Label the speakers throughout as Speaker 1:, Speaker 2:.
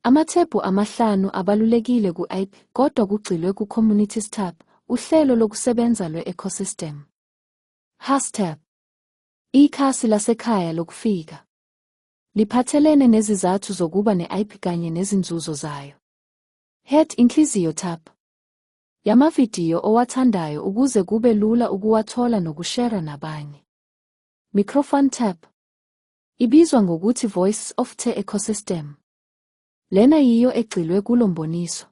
Speaker 1: Amathebhu amahlanu abalulekile ku-IP kodwa kugxilwe ku-Community Stab, uhlelo lokusebenza lwe-ecosystem. Hastab, ikhasi lasekhaya lokufika, liphathelene nezizathu zokuba ne-IP kanye nezinzuzo zayo. Head Inhliziyo Tab, yamavidiyo owathandayo ukuze kube lula ukuwathola nokushera nabanye. Microphone Tab, Ibizwa ngokuthi Voices of the Ecosystem. Lena yiyo egxilwe kulo mboniso.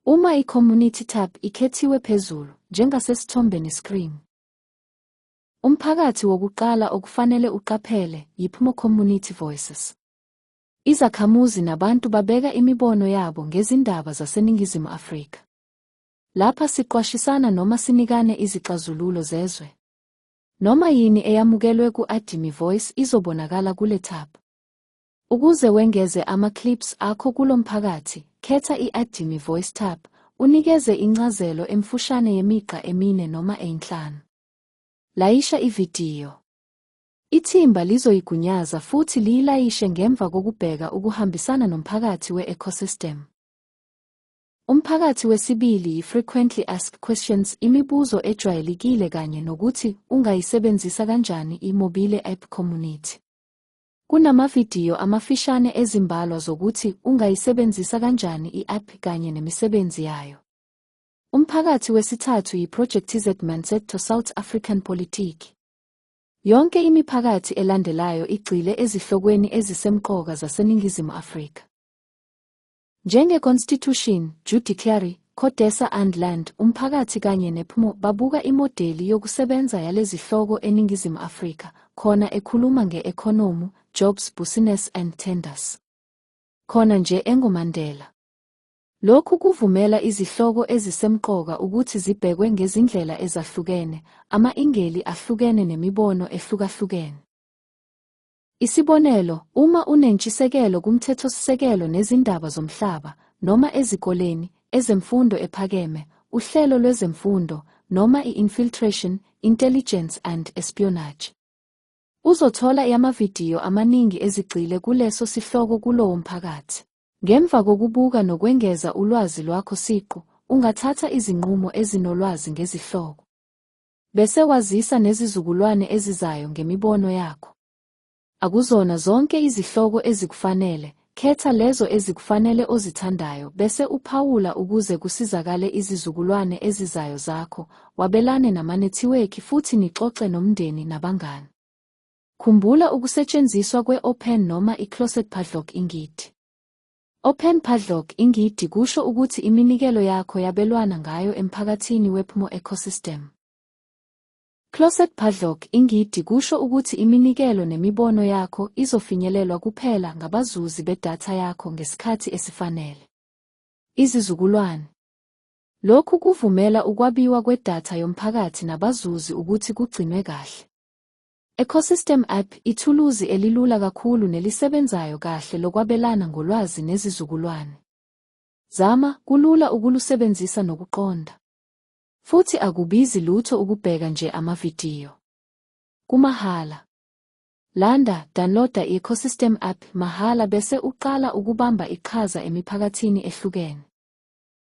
Speaker 1: Uma i-Community tab ikhethiwe phezulu, njengasesithombeni screen. Umphakathi wokuqala okufanele uqaphele yiPmo Community Voices. Izakhamuzi nabantu babeka imibono yabo ngezindaba zaseNingizimu Afrika. Lapha siqwashisana noma sinikane izixazululo zezwe. Noma yini eyamukelwe ku-Adimi Voice izobonakala kule tab. Ukuze wengeze ama-clips akho kulo mphakathi, khetha i-Adimi Voice tab, unikeze incazelo emfushane yemigqa emine noma eyinhlanu. Layisha ividiyo. Ithimba lizoyigunyaza futhi liyilayishe ngemva kokubheka ukuhambisana nomphakathi we-ecosystem. Umphakathi wesibili yi-frequently asked questions imibuzo ejwayelekile kanye nokuthi ungayisebenzisa kanjani i-mobile app community. Kunamavidiyo amafishane ezimbalwa zokuthi ungayisebenzisa kanjani i-app kanye nemisebenzi yayo. Umphakathi wesithathu yiProjectZ Mindset to South African Politiki. Yonke imiphakathi elandelayo igxile ezihlokweni ezisemqoka zaseNingizimu Afrika. Njenge Constitution, Judiciary, Codesa and Land, umphakathi kanye nePMO babuka imodeli yokusebenza yalezihloko eNingizimu Afrika, khona ekhuluma nge-economu, jobs, business and tenders. Khona nje engoMandela. Lokhu kuvumela izihloko ezisemqoka ukuthi zibhekwe ngezindlela ezahlukene, ama-ingeli ahlukene nemibono ehlukahlukene. Isibonelo, uma unentshisekelo kumthethosisekelo nezindaba zomhlaba, noma ezikoleni, ezemfundo ephakeme, uhlelo lwezemfundo, noma i-infiltration, intelligence and espionage. Uzothola yamavidiyo amaningi ezigxile kuleso sihloko kulowo mphakathi. Ngemva kokubuka nokwengeza ulwazi lwakho siqu, ungathatha izinqumo ezinolwazi ngezihloko. Bese wazisa nezizukulwane ezizayo ngemibono yakho. Akuzona zonke izihloko ezikufanele, khetha lezo ezikufanele ozithandayo bese uphawula ukuze kusizakale izizukulwane ezizayo zakho, wabelane namanethiwekhi futhi nixoxe nomndeni nabangani. Khumbula ukusetshenziswa kwe-open noma i-closet padlock ingidi. Open Padlock ingidi kusho ukuthi iminikelo yakho yabelwana ngayo emphakathini wePmo Ecosystem. Closet Padlock ingidi kusho ukuthi iminikelo nemibono yakho izofinyelelwa kuphela ngabazuzi bedatha yakho ngesikhathi esifanele. Izizukulwane Lokhu kuvumela ukwabiwa kwedatha yomphakathi nabazuzi ukuthi kugcinwe kahle. Ecosystem App ithuluzi elilula kakhulu nelisebenzayo kahle lokwabelana ngolwazi nezizukulwane. Zama, kulula ukulusebenzisa nokuqonda. Futhi akubizi lutho ukubheka nje amavidiyo. Kumahhala. Landa, downloada i-Ecosystem App mahhala bese uqala ukubamba iqhaza emiphakathini ehlukene.